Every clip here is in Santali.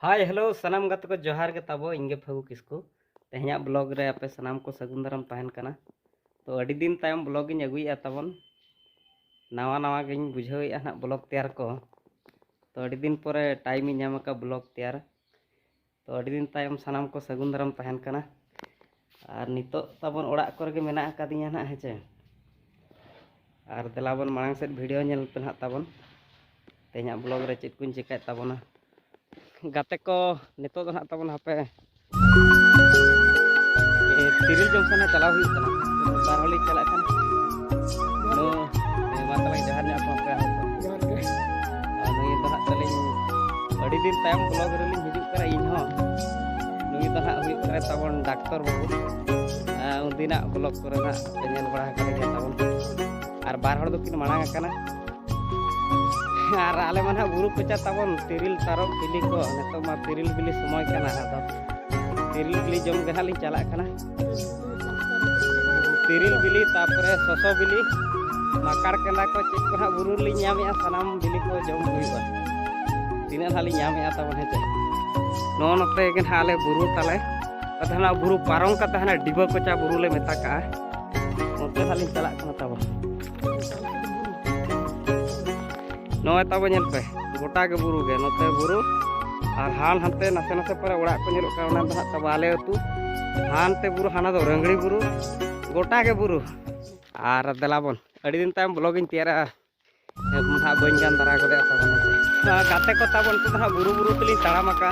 ᱦᱟᱭ ᱦᱮᱞᱳ ᱥᱟᱱᱟᱢ ᱜᱟᱛᱮ ᱠᱚ ᱡᱚᱦᱟᱨ ᱜᱮ ᱛᱟᱵᱚ ᱤᱧ ᱜᱮ ᱯᱷᱟᱹᱜᱩ ᱠᱤᱥᱠᱩ ᱛᱮᱦᱮᱧᱟᱜ ᱵᱞᱚᱜ ᱨᱮ ᱟᱯᱮ ᱥᱟᱱᱟᱢ ᱠᱚ ᱥᱟᱹᱜᱩᱱ ᱫᱟᱨᱟᱢ ᱛᱟᱦᱮᱱ ᱠᱟᱱᱟ ᱛᱚ ᱟᱹᱰᱤ ᱫᱤᱱ ᱛᱟᱭᱚᱢ ᱵᱞᱚᱜ ᱤᱧ ᱟᱹᱜᱩᱭᱮᱫᱼᱟ ᱛᱟᱵᱚᱱ ᱱᱟᱣᱟ ᱱᱟᱣᱟ ᱜᱤᱧ ᱵᱩᱡᱷᱟᱹᱣᱮᱫᱼᱟ ᱦᱟᱸᱜ ᱵᱞᱚᱜ ᱛᱮᱭᱟᱨ ᱠᱚ ᱛᱚ ᱟᱹᱰᱤ ᱫᱤᱱ ᱯᱚᱨᱮ ᱴᱟᱭᱤᱢ ᱤᱧ ᱧᱟᱢ ᱟᱠᱟᱫ ᱵᱞᱚᱜ ᱛᱮᱭᱟᱨ ᱛᱚ ᱟᱹᱰᱤ ᱫᱤᱱ ᱛᱟᱭᱚᱢ ᱥᱟᱱᱟᱢ ᱠᱚ ᱥᱟᱹᱜᱩᱱ ᱫᱟᱨᱟᱢ ᱛᱟᱦᱮᱱ ᱠᱟᱱᱟ ᱟᱨ ᱱᱤᱛᱚᱜ ᱛᱟᱵᱚᱱ ᱚᱲᱟᱜ ᱠᱚᱨᱮ ᱜᱮ ᱢᱮᱱᱟᱜ ᱟᱠᱟᱫᱤᱧᱟ ᱱᱟᱦᱟᱜ ᱦᱮᱸᱪᱮ ᱟᱨ ᱫᱮᱞᱟ ᱵᱚᱱ ᱢᱟᱲᱟᱝ ᱥᱮᱫ ᱵᱷᱤᱰᱤᱭᱳ ᱧᱮᱞ ᱯᱮ ᱱᱟᱦᱟᱜ ᱛᱟᱵᱚᱱ ᱛᱮᱦᱮᱧᱟᱜ ᱵᱞᱚᱜ ᱨᱮ ᱪᱮᱫ ᱠᱚᱧ ᱪᱮᱠᱟᱭᱮᱫ ᱛᱟᱵᱚᱱᱟ ᱜᱟᱛᱮ ᱠᱚ ᱱᱤᱛᱚᱜ ᱫᱚ ᱱᱟᱦᱟᱜ ᱛᱟᱵᱚᱱ ᱦᱟᱯᱮ ᱛᱤᱨᱤᱞ ᱡᱚᱢ ᱥᱟᱱᱟ ᱪᱟᱞᱟᱣ ᱦᱩᱭᱩᱜ ᱠᱟᱱᱟ ᱵᱟᱨ ᱦᱚᱲ ᱞᱤᱧ ᱪᱟᱞᱟᱜ ᱠᱟᱱᱟ ᱢᱟ ᱛᱟᱞᱟᱝ ᱡᱚᱦᱟᱨ ᱧᱚᱜ ᱠᱚ ᱯᱮ ᱱᱩᱭ ᱫᱚ ᱱᱟᱦᱟᱜ ᱛᱟᱹᱞᱤᱧ ᱟᱹᱰᱤ ᱫᱤᱱ ᱛᱟᱭᱚᱢ ᱵᱞᱚᱜ ᱨᱮᱞᱤᱧ ᱦᱤᱡᱩᱜ ᱠᱟᱱᱟ ᱤᱧ ᱦᱚᱸ ᱱᱩᱭ ᱫᱚ ᱦᱟᱸᱜ ᱦᱩᱭᱩᱜ ᱠᱟᱱᱟᱭ ᱛᱟᱵᱚᱱ ᱰᱟᱠᱛᱚᱨ ᱵᱟᱹᱵᱩ ᱩᱱᱫᱤᱱᱟᱜ ᱵᱞᱚᱠ ᱠᱚᱨᱮ ᱦᱟᱸᱜ ᱯᱮ ᱧᱮᱞ ᱵᱟᱲᱟ ᱟᱠᱟᱫ ᱜᱮᱭᱟ ᱛᱟᱵᱚᱱ ᱟᱨ ᱵᱟᱨ ᱦᱚᱲ ᱫᱚᱠᱤᱱ ᱢᱟᱲᱟᱝ ᱟᱠᱟᱱᱟ ᱟᱨ ᱟᱞᱮ ᱢᱟ ᱦᱟᱸᱜ ᱵᱩᱨᱩ ᱠᱚᱪᱟ ᱛᱟᱵᱚᱱ ᱛᱤᱨᱤᱞ ᱛᱟᱨᱚᱵ ᱵᱤᱞᱤ ᱠᱚ ᱱᱤᱛᱚᱜ ᱢᱟ ᱛᱤᱨᱤᱞ ᱵᱤᱞᱤ ᱥᱚᱢᱚᱭ ᱠᱟᱱᱟ ᱟᱫᱚ ᱛᱤᱨᱤᱞ ᱵᱤᱞᱤ ᱡᱚᱢ ᱜᱮ ᱦᱟᱸᱜ ᱞᱤᱧ ᱪᱟᱞᱟᱜ ᱠᱟᱱᱟ ᱛᱤᱨᱤᱞ ᱵᱤᱞᱤ ᱛᱟᱨᱯᱚᱨᱮ ᱥᱚᱥᱚ ᱵᱤᱞᱤ ᱢᱟᱠᱟᱲ ᱠᱮᱸᱫᱟ ᱠᱚ ᱪᱮᱫ ᱠᱚ ᱦᱟᱸᱜ ᱵᱩᱨᱩ ᱨᱮᱞᱤᱧ ᱧᱟᱢᱮᱜᱼᱟ ᱥᱟᱱᱟᱢ ᱵᱤᱞᱤ ᱠᱚ ᱡᱚᱢ ᱦᱩᱭᱩᱜᱼᱟ ᱛᱤᱱᱟᱹᱜ ᱦᱟᱸᱜ ᱞᱤᱧ ᱧᱟᱢᱮᱜᱼᱟ ᱛᱟᱵᱚᱱ ᱦᱮᱸ ᱪᱮ ᱱᱚᱜᱼᱚ ᱱᱚᱛᱮ ᱜᱮ ᱦᱟᱸᱜ ᱟᱞᱮ ᱵᱩᱨᱩ ᱛᱟᱞᱮ ᱟᱫᱚ ᱦᱟᱸᱜ ᱵᱩᱨᱩ ᱯᱟᱨᱚᱢ ᱠᱟᱛᱮ ᱦᱟᱸᱜ ᱰᱤᱵᱟᱹ ᱠᱚᱪᱟ ᱵᱩᱨᱩ ᱞᱮ ᱢᱮᱛᱟᱜ ᱠᱟᱜᱼᱟ ᱚᱱᱛᱮ ᱦᱟᱸᱜ ᱞᱤᱧ ᱪᱟᱞᱟᱜ ᱠᱟᱱᱟ ᱛᱟᱵᱚᱱ ᱱᱚᱜᱼᱚᱭ ᱛᱟᱵᱚ ᱧᱮᱞ ᱯᱮ ᱜᱚᱴᱟ ᱜᱮ ᱵᱩᱨᱩ ᱜᱮ ᱱᱚᱛᱮ ᱵᱩᱨᱩ ᱟᱨ ᱦᱟᱱ ᱦᱟᱱᱛᱮ ᱱᱟᱥᱮ ᱱᱟᱥᱮ ᱯᱚᱨᱮ ᱚᱲᱟᱜ ᱠᱚ ᱧᱮᱞᱚᱜ ᱠᱟᱱᱟ ᱚᱱᱟ ᱫᱚ ᱦᱟᱸᱜ ᱛᱟᱵᱚ ᱟᱞᱮ ᱟᱹᱛᱩ ᱦᱟᱱᱛᱮ ᱵᱩᱨᱩ ᱦᱟᱱᱟ ᱫᱚ ᱨᱟᱹᱝᱲᱤ ᱵᱩᱨᱩ ᱜᱚᱴᱟ ᱜᱮ ᱵᱩᱨᱩ ᱟᱨ ᱫᱮᱞᱟ ᱵᱚᱱ ᱟᱹᱰᱤ ᱫᱤᱱ ᱛᱟᱭᱚᱢ ᱵᱞᱚᱜ ᱤᱧ ᱛᱮᱭᱟᱨᱟ ᱱᱟᱦᱟᱜ ᱵᱟᱹᱧ ᱜᱟᱱ ᱫᱟᱨᱟ ᱜᱚᱫᱮᱜᱼᱟ ᱛᱟᱵᱚᱱ ᱜᱟᱛᱮ ᱠᱚ ᱛᱟᱵᱚᱱ ᱱᱤᱛᱚᱜ ᱫᱚ ᱦᱟᱸᱜ ᱵᱩᱨᱩ ᱵᱩᱨᱩ ᱛᱮᱞᱤᱧ ᱛᱟᱲᱟᱢ ᱟᱠᱟᱜᱼᱟ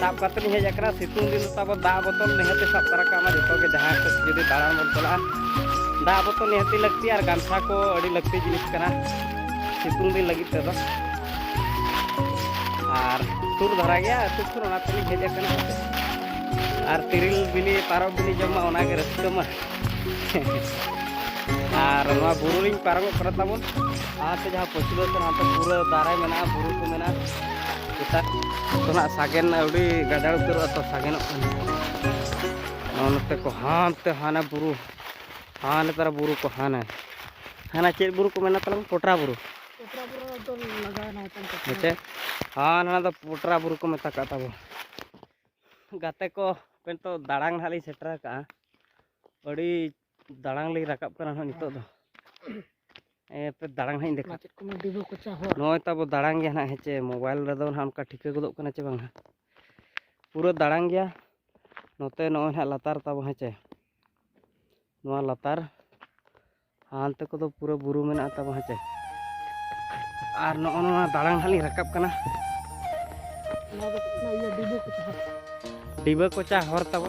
ᱥᱟᱵ ᱠᱟᱛᱮ ᱞᱤᱧ ᱦᱮᱡ ᱟᱠᱟᱱᱟ ᱥᱤᱛᱩᱝ ᱫᱤᱱ ᱛᱟᱵᱚ ᱫᱟᱜ ᱵᱚᱛᱚᱞ ᱱᱤᱦᱟᱹᱛ ᱥᱟᱵ ᱛᱟᱨᱟ ᱠᱟᱜ ᱢᱟ ᱡᱚᱛᱚ ᱜᱮ ᱡᱟᱦᱟᱸ ᱥᱮᱫ ᱡᱩᱫᱤ ᱫᱟᱬᱟᱱ ᱵᱚᱱ ᱪᱟᱞᱟᱜᱼᱟ ᱫᱟᱜ ᱵᱚᱛᱚᱞ ᱱᱤᱦᱟᱹᱛ ᱞᱟᱹᱠᱛᱤ ᱟᱨ ᱜᱟᱢᱪᱷᱟ ᱠᱚ ᱟᱹᱰᱤ ᱞᱟᱹᱠᱛᱤ ᱡᱤᱱᱤᱥ ᱠᱟᱱᱟ ᱥᱤᱛᱩᱝ ᱫᱤᱱ ᱞᱟᱹᱜᱤᱫ ᱛᱮᱫᱚ ᱟᱨ ᱥᱩᱨ ᱫᱷᱟᱨᱟ ᱜᱮᱭᱟ ᱟᱹᱛᱩ ᱥᱩᱨ ᱚᱱᱟ ᱛᱮᱞᱤᱧ ᱦᱮᱡ ᱟᱠᱟᱱᱟ ᱟᱨ ᱛᱤᱨᱤᱞ ᱵᱤᱞᱤ ᱯᱟᱨᱚᱵ ᱵᱤᱞᱤ ᱡᱚᱢ ᱢᱟ ᱚᱱᱟᱜᱮ ᱨᱟᱹᱥᱠᱟᱹ ᱢᱟ ᱟᱨ ᱱᱚᱣᱟ ᱵᱩᱨᱩ ᱞᱤᱧ ᱯᱟᱨᱚᱢᱚᱜ ᱠᱟᱱᱟ ᱛᱟᱵᱚᱱ ᱟᱨ ᱡᱟᱦᱟᱸ ᱯᱚᱪᱷᱤᱢ ᱥᱮᱫ ᱦᱟᱱᱛᱮ ᱯᱩᱨᱟᱹ ᱫᱟᱨᱮ ᱢᱮᱱᱟᱜᱼᱟ ᱵᱩᱨᱩ ᱠᱚ ᱢᱮᱱᱟᱜᱼᱟ ᱥᱮᱛᱟᱜ ᱠᱷᱚᱱᱟᱜ ᱥᱟᱜᱮᱱ ᱟᱹᱣᱨᱤ ᱜᱟᱡᱟᱲ ᱩᱛᱟᱹᱨᱚᱜᱼᱟ ᱛᱚ ᱥᱟᱜᱮᱱᱚᱜ ᱠᱟᱱᱟ ᱱᱚᱜᱼᱚ ᱱᱚᱛᱮ ᱠᱚ ᱦᱟᱱᱛᱮ ᱦᱟᱱᱮ ᱵᱩᱨᱩ ᱦᱟᱱᱮ ᱛᱟᱨᱟ ᱵᱩᱨᱩ ᱠᱚ ᱦᱟᱱᱮ ᱦᱟᱱᱟ ᱪᱮᱫ ᱵᱩᱨᱩ ᱠᱚ ᱢᱮᱱᱟ ᱛᱟᱞᱟᱝ ᱯᱚᱴᱨᱟ ᱵᱩᱨᱩ ᱦᱮᱸᱪᱮ ᱦᱟᱱ ᱦᱟᱱᱟ ᱫᱚ ᱯᱚᱴᱨᱟ ᱵᱩᱨᱩ ᱠᱚ ᱢᱮᱛᱟ ᱠᱟᱜ ᱛᱟᱵᱚ ᱜᱟᱛᱮ ᱠᱚ ᱱᱤᱛᱚᱜ ᱫᱟᱬᱟᱱ ᱦᱟᱸᱜ ᱞᱤᱧ ᱥᱮᱴᱮᱨ ᱟᱠᱟᱜᱼᱟ ᱟᱹᱰᱤ ᱫᱟᱲᱟᱝ ᱞᱤᱧ ᱨᱟᱠᱟᱵ ᱠᱟᱱᱟ ᱦᱟᱸᱜ ᱱᱤᱛᱚᱜ ᱫᱚ ᱮᱯᱮ ᱫᱟᱲᱟᱝ ᱦᱟᱸᱜ ᱤᱧ ᱫᱮᱠᱷᱟ ᱪᱮᱫ ᱠᱚ ᱢᱮᱱᱟ ᱰᱤᱵᱟᱹ ᱠᱚᱪᱟ ᱦᱚᱨ ᱱᱚᱜᱼᱚᱭ ᱛᱟᱵᱚ ᱫᱟᱲᱟᱝ ᱜᱮᱭᱟ ᱦᱟᱸᱜ ᱦᱮᱸᱪᱮ ᱢᱳᱵᱟᱭᱤᱞ ᱨᱮᱫᱚ ᱦᱟᱸᱜ ᱚᱱᱠᱟ ᱴᱷᱤᱠᱟᱹ ᱜᱚᱫᱚᱜ ᱠᱟᱱᱟ ᱪᱮ ᱵᱟᱝ ᱯᱩᱨᱟᱹ ᱫᱟᱲᱟᱝ ᱜᱮᱭᱟ ᱱᱚᱛᱮ ᱱᱚᱜᱼᱚᱭ ᱦᱟᱸᱜ ᱞᱟᱛᱟᱨ ᱛᱟᱵᱚ ᱦᱮᱸᱪᱮ ᱱᱚᱣᱟ ᱞᱟᱛᱟᱨ ᱦᱟᱱᱛᱮ ᱠᱚᱫᱚ ᱯᱩᱨᱟᱹ ᱵᱩᱨᱩ ᱢᱮᱱᱟᱜᱼᱟ ᱛᱟᱵᱚ ᱦᱮᱸᱪᱮ ᱟᱨ ᱱᱚᱜᱼᱚ ᱱᱚᱣᱟ ᱫᱟᱲᱟᱝ ᱦᱟᱸᱜ ᱞᱤᱧ ᱨᱟᱠᱟᱵ ᱠᱟᱱᱟ ᱰᱤᱵᱟᱹ ᱠᱚᱪᱟ ᱦᱚᱨ ᱛᱟᱵᱚ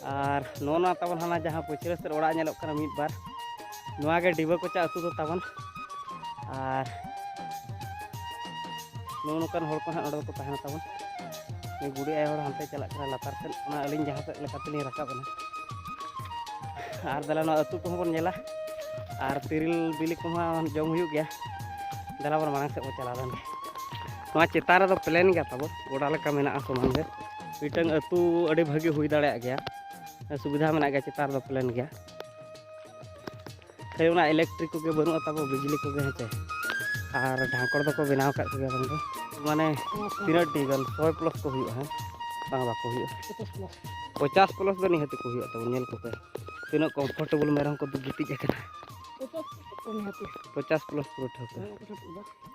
ᱟᱨ ᱱᱚᱜᱼᱚ ᱱᱚᱣᱟ ᱛᱟᱵᱚᱱ ᱦᱟᱱᱟ ᱡᱟᱦᱟᱸ ᱯᱟᱹᱪᱷᱞᱟᱹ ᱥᱮᱫ ᱚᱲᱟᱜ ᱧᱮᱞᱚᱜ ᱠᱟᱱᱟ ᱢᱤᱫ ᱵᱟᱨ ᱱᱚᱣᱟ ᱜᱮ ᱰᱤᱵᱟᱹ ᱠᱚᱪᱟ ᱟᱹᱛᱩ ᱫᱚ ᱛᱟᱵᱚᱱ ᱟᱨ ᱱᱚᱜᱼᱚ ᱱᱚᱝᱠᱟᱱ ᱦᱚᱲ ᱠᱚ ᱦᱟᱸᱜ ᱱᱚᱰᱮ ᱫᱚᱠᱚ ᱛᱟᱦᱮᱱᱟ ᱛᱟᱵᱚᱱ ᱱᱩᱭ ᱵᱩᱰᱷᱤ ᱟᱭᱳ ᱦᱚᱲ ᱦᱟᱱᱛᱮ ᱪᱟᱞᱟᱜ ᱠᱟᱱᱟ ᱞᱟᱛᱟᱨ ᱥᱮᱫ ᱚᱱᱟ ᱟᱹᱞᱤᱧ ᱡᱟᱦᱟᱸ ᱥᱮᱫ ᱞᱮᱠᱟ ᱛᱮᱞᱤᱧ ᱨᱟᱠᱟᱵ ᱮᱱᱟ ᱟᱨ ᱫᱟᱞᱟ ᱱᱚᱣᱟ ᱟᱹᱛᱩ ᱠᱚᱦᱚᱸ ᱵᱚᱱ ᱧᱮᱞᱟ ᱟᱨ ᱛᱤᱨᱤᱞ ᱵᱤᱞᱤ ᱠᱚᱦᱚᱸ ᱡᱚᱢ ᱦᱩᱭᱩᱜ ᱜᱮᱭᱟ ᱫᱟᱞᱟ ᱵᱚᱱ ᱢᱟᱲᱟᱝ ᱥᱮᱫ ᱵᱚᱱ ᱪᱟᱞᱟᱣ ᱞᱮᱱ ᱜᱮ ᱱᱚᱣᱟ ᱪᱮᱛᱟᱱ ᱨᱮᱫᱚ ᱯᱞᱮᱱ ᱜᱮᱭᱟ ᱛᱟᱵᱚ ᱜᱚᱰᱟ ᱞᱮᱠᱟ ᱢᱮᱱᱟᱜᱼᱟ ᱥᱚᱢᱟᱱ ᱜᱮ ᱢᱤᱫᱴᱟᱝ ᱟᱹᱛᱩ ᱟᱹᱰᱤ ᱵᱷᱟᱹᱜᱤ ᱦᱩᱭ ᱫᱟᱲᱮᱭᱟᱜ ᱜᱮᱭᱟ ᱥᱩᱵᱤᱫᱷᱟ ᱢᱮᱱᱟᱜ ᱜᱮᱭᱟ ᱪᱮᱛᱟᱱ ᱫᱚ ᱯᱞᱮᱱ ᱜᱮᱭᱟ ᱠᱷᱟᱹᱞᱤ ᱚᱱᱟ ᱤᱞᱮᱠᱴᱨᱤᱠ ᱠᱚᱜᱮ ᱵᱟᱹᱱᱩᱜᱼᱟ ᱛᱟᱵᱚ ᱵᱤᱡᱽᱞᱤ ᱠᱚᱜᱮ ᱦᱮᱸᱪᱮ ᱟᱨ ᱰᱷᱟᱸᱠᱚᱲ ᱫᱚᱠᱚ ᱵᱮᱱᱟᱣ ᱟᱠᱟᱫ ᱠᱚᱜᱮᱭᱟ ᱵᱟᱝ ᱫᱚ ᱢᱟᱱᱮ ᱛᱤᱱᱟᱹᱜ ᱴᱤ ᱜᱟᱱ ᱥᱚᱭ ᱯᱞᱚᱥ ᱠᱚ ᱦᱩᱭᱩᱜᱼᱟ ᱦᱮᱸ ᱵᱟᱝ ᱵᱟᱠᱚ ᱦᱩᱭᱩᱜᱼᱟ ᱯᱚᱪᱟᱥ ᱯᱞᱚᱥ ᱫᱚ ᱱᱤᱦᱟᱹᱛ ᱠᱚ ᱦᱩᱭᱩᱜᱼᱟ ᱛᱟᱵᱚ ᱧᱮᱞ ᱠᱚᱯᱮ ᱛᱤᱱᱟᱹᱜ ᱠᱚᱢᱯᱷᱚᱨᱴᱮᱵᱚᱞ ᱢᱮᱨᱚᱢ ᱠᱚ ᱜᱤᱛᱤᱡ ᱟᱠᱟᱱᱟ ᱯᱚᱪᱟᱥ ᱯᱞᱚᱥ ᱯᱩᱨᱟᱹ ᱴᱷᱟᱹᱣᱠᱟᱹ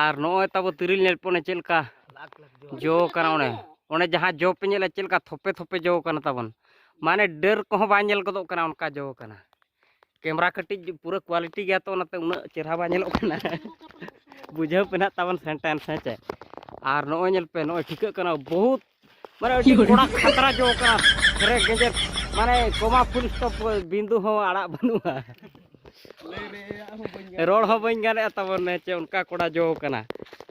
ᱟᱨ ᱱᱚᱜᱼᱚᱭ ᱛᱟᱵᱚ ᱛᱤᱨᱤᱞ ᱧᱮᱞ ᱯᱚᱱᱮ ᱪᱮᱫ ᱞᱮᱠᱟ ᱡᱚ ᱠᱟᱱᱟ ᱚᱱᱮ ᱚᱱᱮ ᱡᱟᱦᱟᱸ ᱡᱚ ᱯᱮ ᱧᱮᱞᱟ ᱪᱮᱫ ᱞᱮᱠᱟ ᱛᱷᱚᱯᱮ ᱛᱷᱚᱯᱮ ᱡᱚ ᱠᱟᱱᱟ ᱛᱟᱵᱚᱱ ᱢᱟᱱᱮ ᱰᱟᱹᱨ ᱠᱚᱦᱚᱸ ᱵᱟᱝ ᱧᱮᱞ ᱜᱚᱫᱚᱜ ᱠᱟᱱᱟ ᱚᱱᱠᱟ ᱡᱚ ᱠᱟᱱᱟ ᱠᱮᱢᱨᱟ ᱠᱟᱹᱴᱤᱡ ᱯᱩᱨᱟᱹ ᱠᱣᱟᱞᱤᱴᱤ ᱜᱮᱭᱟ ᱛᱚ ᱚᱱᱟᱛᱮ ᱩᱱᱟᱹᱜ ᱪᱮᱦᱨᱟ ᱵᱟᱝ ᱧᱮᱞᱚᱜ ᱠᱟᱱᱟ ᱵᱩᱡᱷᱟᱹᱣ ᱯᱮ ᱱᱟᱜ ᱛᱟᱵᱚᱱ ᱥᱮᱱᱴᱮᱱᱥ ᱦᱮᱸ ᱪᱮ ᱟᱨ ᱱᱚᱜᱼᱚᱭ ᱧᱮᱞ ᱯᱮ ᱱᱚᱜᱼᱚᱭ ᱴᱷᱤᱠᱟᱹᱜ ᱠᱟᱱᱟ ᱵᱚᱦᱩᱛ ᱢᱟᱱᱮ ᱟᱹᱰᱤ ᱠᱚᱲᱟ ᱠᱷᱟᱛᱨᱟ ᱡᱚ ᱠᱟᱱᱟ ᱨᱮ ᱜᱮᱡᱮᱨ ᱢᱟᱱᱮ ᱠᱚᱢᱟ ᱯᱷᱩᱞ ᱥᱴᱚᱯ ᱵᱤᱸᱫᱩ ᱦᱚᱸ ᱟᱲᱟᱜ ᱵᱟᱹᱱᱩᱜᱼᱟ ᱨᱚᱲ ᱦᱚᱸ ᱵᱟᱹᱧ ᱜᱟᱱᱮᱜᱼᱟ ᱛᱟᱵᱚᱱ ᱪᱮ ᱚᱱᱠᱟ ᱠᱚᱲᱟ ᱡᱚ ᱠᱟᱱᱟ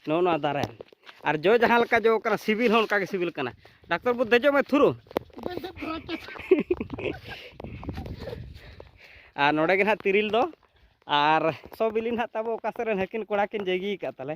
ᱱᱚᱜᱼᱚ ᱱᱚᱣᱟ ᱫᱟᱨᱮ ᱟᱨ ᱡᱚ ᱡᱟᱦᱟᱸ ᱞᱮᱠᱟ ᱡᱚ ᱠᱟᱱᱟ ᱥᱤᱵᱤᱞ ᱦᱚᱸ ᱚᱱᱠᱟ ᱜᱮ ᱥᱤᱵᱤᱞ ᱠᱟᱱᱟ ᱰᱟᱠᱛᱚᱨ ᱵᱟᱹᱵᱩ ᱫᱮᱡᱚᱜ ᱢᱮ ᱛᱷᱩᱨᱩ ᱟᱨ ᱱᱚᱰᱮ ᱜᱮ ᱱᱟᱦᱟᱜ ᱛᱤᱨᱤᱞ ᱫᱚ ᱟᱨ ᱥᱚ ᱵᱤᱞᱤ ᱱᱟᱦᱟᱜ ᱛᱟᱵᱚ ᱚᱠᱟ ᱥᱮᱫ ᱨᱮᱱ ᱦᱟᱹᱠᱤᱱ ᱠᱚᱲᱟ ᱠᱤᱱ ᱡᱟᱹᱜᱤ ᱟᱠᱟᱫ ᱛᱟᱞᱮ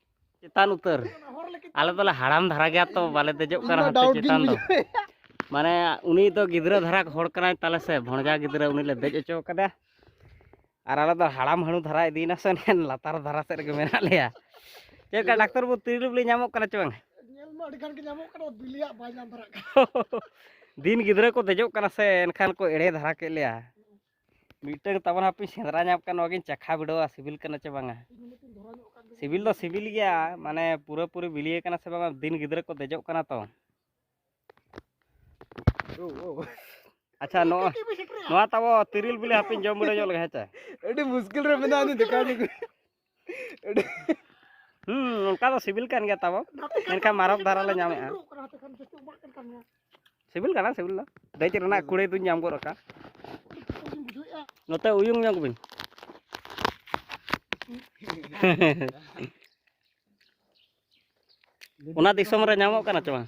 ᱪᱮᱛᱟᱱ ᱩᱛᱟᱹᱨ ᱟᱞᱮ ᱫᱚᱞᱮ ᱦᱟᱲᱟᱢ ᱫᱷᱟᱨᱟ ᱜᱮᱭᱟ ᱛᱚ ᱵᱟᱞᱮ ᱫᱮᱡᱚᱜ ᱠᱟᱱᱟ ᱦᱟᱱᱛᱮ ᱪᱮᱛᱟᱱ ᱫᱚ ᱢᱟᱱᱮ ᱩᱱᱤ ᱫᱚ ᱜᱤᱫᱽᱨᱟᱹ ᱫᱷᱟᱨᱟ ᱦᱚᱲ ᱠᱟᱱᱟᱭ ᱛᱟᱞᱮ ᱥᱮ ᱵᱷᱚᱸᱡᱟ ᱜᱤᱫᱽᱨᱟᱹ ᱩᱱᱤ ᱞᱮ ᱫᱮᱡ ᱦᱚᱪᱚ ᱠᱟᱫᱟ ᱟᱨ ᱟᱞᱮ ᱫᱚ ᱦᱟᱲᱟᱢ ᱦᱟᱹᱬᱩ ᱫᱷᱟᱨᱟ ᱤᱫᱤᱭᱮᱱᱟ ᱥᱮ ᱞᱟᱛᱟᱨ ᱫᱷᱟᱨᱟ ᱥᱮᱫ ᱨᱮᱜᱮ ᱢᱮᱱᱟᱜ ᱞᱮᱭᱟ ᱪᱮᱫ ᱞᱮᱠᱟ ᱰᱟᱠᱛᱚᱨ ᱵᱟᱹᱵᱩ ᱛᱤᱨᱤᱞᱤ ᱧᱟᱢᱚᱜ ᱠᱟᱱᱟ ᱪᱮ ᱵᱟᱝ ᱫᱤᱱ ᱜᱤᱫᱽᱨᱟᱹ ᱠᱚ ᱫᱮᱡᱚᱜ ᱠᱟᱱᱟ ᱥᱮ ᱮᱱᱠᱷᱟᱱ ᱠᱚ ᱮᱲᱮ ᱫᱷᱟᱨᱟ ᱠᱮᱫ ᱞᱮᱭᱟ ᱢᱤᱫᱴᱟᱝ ᱛᱟᱵᱚᱱ ᱦᱟᱯᱮ ᱥᱮᱸᱫᱽᱨᱟ ᱧᱟᱢ ᱠᱟᱱ ᱱᱚᱣᱟᱜᱤᱧ ᱪᱟᱠᱷᱟ ᱵᱤᱰᱟᱹᱣᱟ ᱥᱤᱵᱤᱞ ᱠᱟᱱᱟ ᱪᱮ ᱵᱟᱝᱟ ᱥᱤᱵᱤᱞ ᱫᱚ ᱥᱤᱵᱤᱞ ᱜᱮᱭᱟ ᱢᱟᱱᱮ ᱯᱩᱨᱟᱹ ᱯᱩᱨᱤ ᱵᱤᱞᱤᱭ ᱠᱟᱱᱟ ᱥᱮ ᱵᱟᱝᱟ ᱫᱤᱱ ᱜᱤᱫᱽᱨᱟᱹ ᱠᱚ ᱫᱮᱡᱚᱜ ᱠᱟᱱᱟ ᱛᱚ ᱟᱪᱪᱷᱟ ᱱᱚᱣᱟ ᱱᱚᱣᱟ ᱛᱟᱵᱚ ᱛᱤᱨᱤᱞ ᱵᱤᱞᱤ ᱦᱟᱯᱮᱧ ᱡᱚᱢ ᱵᱤᱰᱟᱹᱣ ᱧᱚᱜ ᱞᱮᱜᱮ ᱦᱮᱸ ᱪᱮ ᱟᱹᱰᱤ ᱢᱩᱥᱠᱤᱞ ᱨᱮ ᱢᱮᱱᱟᱜᱼᱟ ᱫᱮᱠᱷᱟᱣ ᱦᱩᱸ ᱚᱱᱠᱟ ᱫᱚ ᱥᱤᱵᱤᱞ ᱠᱟᱱ ᱜᱮᱭᱟ ᱛᱟᱵᱚ ᱢᱮᱱᱠᱷᱟᱱ ᱢᱟᱨᱚᱠ ᱫᱷᱟᱨᱟ ᱞᱮ ᱧᱟᱢᱮᱜᱼᱟ ᱥᱤᱵᱤᱞ ᱠᱟᱱᱟ ᱥᱤᱵᱤᱞ ᱫᱚ ᱫᱮᱡ ᱨᱮᱱᱟᱜ ᱠᱩᱲᱟᱹᱭ ᱫᱚᱧ ᱧᱟᱢ ᱜᱚᱫ ᱟᱠᱟᱫ ᱱᱚᱛᱮ ᱩᱭᱩᱝ ᱧᱚᱜ ᱵᱤᱱ ᱚᱱᱟ ᱫᱤᱥᱚᱢ ᱨᱮ ᱧᱟᱢᱚᱜ ᱠᱟᱱᱟ ᱪᱮ ᱵᱟᱝ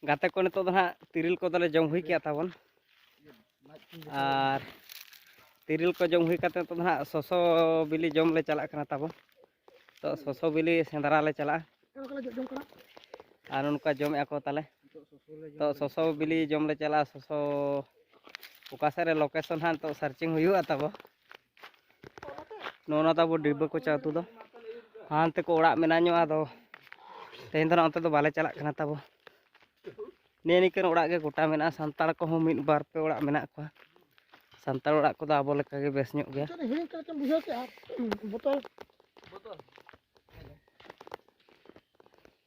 ᱜᱟᱛᱮ ᱠᱚ ᱱᱤᱛᱚᱜ ᱫᱚ ᱦᱟᱸᱜ ᱛᱤᱨᱤᱞ ᱠᱚᱫᱚᱞᱮ ᱡᱚᱢ ᱦᱩᱭ ᱠᱮᱜᱼᱟ ᱛᱟᱵᱚᱱ ᱟᱨ ᱛᱤᱨᱤᱞ ᱠᱚ ᱡᱚᱢ ᱦᱩᱭ ᱠᱟᱛᱮ ᱱᱤᱛᱚᱜ ᱫᱚ ᱦᱟᱸᱜ ᱥᱚᱥᱚ ᱵᱤᱞᱤ ᱡᱚᱢ ᱞᱮ ᱪᱟᱞᱟᱜ ᱠᱟᱱᱟ ᱛᱟᱵᱚᱱ ᱛᱚ ᱥᱚᱥᱚ ᱵᱤᱞᱤ ᱥᱮᱸᱫᱽᱨᱟ ᱞᱮ ᱪᱟᱞᱟᱜᱼᱟ ᱟᱨ ᱱᱚᱝᱠᱟ ᱡᱚᱢᱮᱫᱼᱟ ᱠᱚ ᱛᱟᱦᱚᱞᱮ ᱛᱚ ᱥᱚᱥᱚ ᱵᱤᱞᱤ ᱡᱚᱢ ᱞᱮ ᱪᱟᱞᱟᱜᱼᱟ ᱥᱚᱥᱚ ᱚᱠᱟ ᱥᱮᱫ ᱨᱮ ᱞᱳᱠᱮᱥᱚᱱ ᱦᱟᱸᱜ ᱱᱤᱛᱚᱜ ᱥᱟᱨᱪᱤᱝ ᱦᱩᱭᱩᱜᱼᱟ ᱛᱟᱵᱚ ᱱᱚᱜᱼᱚ ᱱᱟ ᱛᱟᱵᱚ ᱰᱤᱵᱟᱹ ᱠᱚᱪᱟ ᱟᱹᱛᱩ ᱫᱚ ᱦᱟᱱᱛᱮ ᱠᱚ ᱚᱲᱟᱜ ᱢᱮᱱᱟᱜ ᱧᱚᱜ ᱟᱫᱚ ᱛᱮᱦᱮᱧ ᱫᱚ ᱱᱟᱜ ᱚᱱᱛᱮ ᱫᱚ ᱵᱟᱞᱮ ᱪᱟᱞᱟᱜ ᱠᱟᱱᱟ ᱛᱟᱵᱚ ᱱᱤᱭᱟᱹ ᱱᱤᱠᱟᱹᱱ ᱚᱲᱟᱜ ᱜᱮ ᱜᱚᱴᱟ ᱢᱮᱱᱟᱜᱼᱟ ᱥᱟᱱᱛᱟᱲ ᱠᱚᱦᱚᱸ ᱢᱤᱫ ᱵᱟᱨ ᱯᱮ ᱚᱲᱟᱜ ᱢᱮᱱᱟᱜ ᱠᱚᱣᱟ ᱥᱟᱱᱛᱟᱲ ᱚᱲᱟᱜ ᱠᱚᱫᱚ ᱟᱵᱚ ᱞᱮᱠᱟᱜᱮ ᱵᱮᱥ ᱧᱚᱜ ᱜᱮᱭᱟ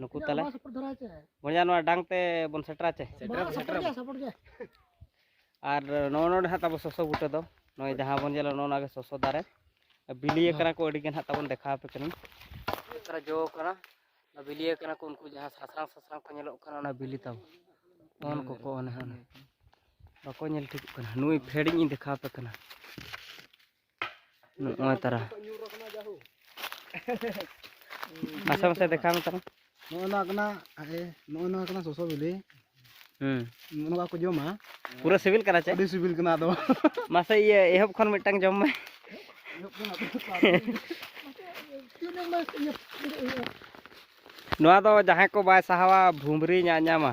ᱱᱩᱠᱩ ᱛᱟᱞᱮ ᱵᱚᱭᱦᱟ ᱱᱚᱣᱟ ᱰᱟᱝ ᱛᱮ ᱵᱚᱱ ᱥᱮᱴᱨᱟ ᱪᱮ ᱟᱨ ᱱᱚᱜᱼᱚ ᱱᱚᱰᱮ ᱦᱟᱸᱜ ᱛᱟᱵᱚ ᱥᱚᱥᱚ ᱵᱩᱴᱟᱹ ᱫᱚ ᱱᱚᱜᱼᱚᱭ ᱡᱟᱦᱟᱸ ᱵᱚᱱ ᱧᱮᱞᱟ ᱱᱚᱜᱼᱚ ᱱᱚᱣᱟ ᱜᱮ ᱥᱚᱥᱚ ᱫᱟᱨᱮ ᱵᱤᱞᱤ ᱟᱠᱟᱱᱟ ᱠᱚ ᱟᱹᱰᱤ ᱜᱟᱱ ᱦᱟᱸᱜ ᱛᱟᱵᱚᱱ ᱫᱮᱠᱷᱟᱣ ᱟᱯᱮ ᱠᱟᱹᱱᱟᱹᱧ ᱛᱟᱨᱟ ᱡᱚ ᱠᱟᱱᱟ ᱵᱤᱞᱤ ᱟᱠᱟᱱᱟ ᱠᱚ ᱩᱱᱠᱩ ᱡᱟᱦᱟᱸ ᱥᱟᱥᱟᱝ ᱥᱟᱥᱟᱝ ᱠᱚ ᱧᱮᱞᱚᱜ ᱠᱟᱱᱟ ᱚᱱᱟ ᱵᱤᱞᱤ ᱛᱟᱵᱚ ᱚᱱ ᱠᱚᱠᱚ ᱚᱱᱮ ᱚᱱᱮ ᱵᱟᱠᱚ ᱧᱮᱞ ᱴᱷᱤᱠᱚᱜ ᱠᱟᱱᱟ ᱱᱩᱭ ᱯᱷᱮᱰᱤᱧ ᱫᱮᱠᱷᱟᱣ ᱟᱯᱮ ᱠᱟᱱᱟ ᱱᱚᱜᱼᱚᱭ ᱛᱟᱨᱟ ᱢᱟᱥᱮ ᱢᱟᱥᱮ ᱫᱮᱠᱷᱟᱣ ᱢᱮ ᱛᱟᱨᱟ ᱱᱚᱜᱼᱚᱭ ᱱᱚᱣᱟ ᱠᱟᱱᱟ ᱱᱚᱜᱼᱚᱭ ᱱᱚᱣᱟ ᱠᱟᱱᱟ ᱥᱚᱥᱚ ᱵᱤᱞᱤ ᱦᱩᱸ ᱱᱚᱣᱟ ᱠᱚ ᱡᱚᱢᱟ ᱯᱩᱨᱟᱹ ᱥᱤᱵᱤᱞ ᱠᱟᱱᱟ ᱪᱮ ᱟᱹᱰᱤ ᱥᱤᱵᱤᱞ ᱠᱟᱱᱟ ᱟᱫᱚ ᱢᱟᱥᱮ ᱤᱭᱟᱹ ᱮᱦᱚᱵ ᱠᱷᱚᱱ ᱢᱤᱫᱴᱟᱝ ᱡᱚᱢ ᱢᱮ ᱱᱚᱣᱟ ᱫᱚ ᱡᱟᱦᱟᱸᱭ ᱠᱚ ᱵᱟᱭ ᱥᱟᱦᱟᱣᱟ ᱵᱷᱩᱢᱨᱤ ᱧᱟᱜ ᱧᱟᱢᱟ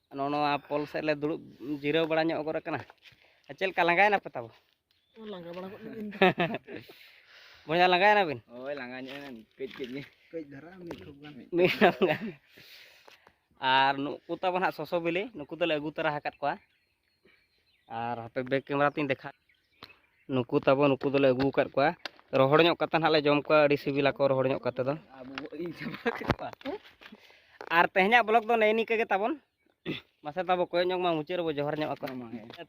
ᱱᱚᱜᱼᱚ ᱱᱚᱣᱟ ᱯᱚᱞ ᱥᱮᱫ ᱞᱮ ᱫᱩᱲᱩᱵ ᱡᱤᱨᱟᱹᱣ ᱵᱟᱲᱟ ᱧᱚᱜ ᱜᱚᱫ ᱟᱠᱟᱱᱟ ᱟᱨ ᱪᱮᱫ ᱞᱮᱠᱟ ᱞᱟᱸᱜᱟᱭᱮᱱᱟ ᱯᱮ ᱛᱟᱵᱚ ᱞᱟᱸᱜᱟ ᱵᱟᱲᱟ ᱜᱚᱫ ᱞᱮᱱ ᱵᱚᱭᱦᱟ ᱞᱟᱸᱜᱟᱭᱮᱱᱟ ᱵᱤᱱ ᱦᱳᱭ ᱞᱟᱸᱜᱟ ᱧᱚᱜ ᱮᱱᱟ ᱠᱟᱹᱡ ᱠᱟᱹᱡ ᱜᱮ ᱠᱟᱹᱡ ᱫᱷᱟᱨᱟ ᱢᱤᱫ ᱴᱷᱚᱯ ᱜᱟᱱ ᱢᱤᱫ ᱴᱷᱚᱯ ᱜᱟᱱ ᱟᱨ ᱱᱩᱠᱩ ᱛᱟᱵᱚ ᱦᱟᱸᱜ ᱥᱚᱥᱚ ᱵᱤᱞᱤ ᱱᱩᱠᱩ ᱫᱚᱞᱮ ᱟᱹᱜᱩ ᱛᱚᱨᱟ ᱟᱠᱟᱫ ᱠᱚᱣᱟ ᱟᱨ ᱦᱟᱯᱮ ᱵᱮᱠ ᱠᱮᱢᱮᱨᱟ ᱛᱤᱧ ᱫᱮᱠᱷᱟ ᱱᱩᱠᱩ ᱛᱟᱵᱚ ᱱᱩᱠᱩ ᱫᱚᱞᱮ ᱟᱹᱜᱩ ᱟᱠᱟᱫ ᱠᱚᱣᱟ ᱨᱚᱦᱚᱲ ᱧᱚᱜ ᱠᱟᱛᱮ ᱱᱟᱦᱟᱜ ᱞᱮ ᱡᱚᱢ ᱠᱚᱣᱟ ᱟᱹᱰᱤ ᱥᱤᱵᱤᱞᱟ ᱠᱚ ᱨᱚᱦᱚᱲ ᱧᱚᱜ ᱠᱟᱛᱮ ᱫᱚ ᱟᱨ ᱛᱮᱦᱮᱧᱟᱜ ᱵᱞᱚᱜ ᱫᱚ ᱱᱮᱜᱼᱮ ᱱᱤᱝᱠᱟᱹ ᱜᱮ ᱛᱟᱵᱚᱱ ᱢᱟᱥᱮ ᱛᱟᱵᱚ ᱠᱚᱭᱚᱜ ᱧᱚᱜ ᱢᱟ ᱢᱩᱪᱟᱹᱫ ᱨᱮᱵᱚ ᱡᱚᱦᱟᱨ ᱧᱚᱜ ᱟᱠᱚ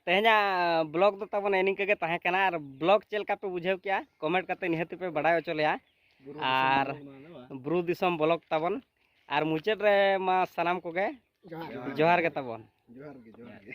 ᱛᱮᱦᱮᱧᱟᱜ ᱵᱞᱚᱜ ᱫᱚ ᱛᱟᱵᱚᱱ ᱱᱮᱜᱼᱮ ᱱᱤᱝᱠᱟᱹ ᱜᱮ ᱛᱟᱦᱮᱸ ᱠᱟᱱᱟ ᱟᱨ ᱵᱞᱚᱜ ᱪᱮᱫ ᱞᱮᱠᱟ ᱯᱮ ᱵᱩᱡᱷᱟᱹᱣ ᱠᱮᱜᱼᱟ ᱠᱚᱢᱮᱱᱴ ᱠᱟᱛᱮ ᱱᱤᱦᱟᱹᱛ ᱯᱮ ᱵᱟᱰᱟᱭ ᱦᱚᱪᱚ ᱞᱮᱭᱟ ᱟᱨ ᱵᱩᱨᱩ ᱫᱤᱥᱚᱢ ᱵᱞᱚᱜ ᱛᱟᱵᱚᱱ ᱟᱨ ᱢᱩᱪᱟᱹᱫ ᱨᱮ ᱢᱟ ᱥᱟᱱᱟᱢ ᱠᱚᱜᱮ ᱡᱚᱦᱟᱨ ᱜᱮ ᱛᱟᱵᱚᱱ ᱡᱚᱦᱟᱨ ᱜᱮ ᱡᱚᱦᱟᱨ ᱜᱮ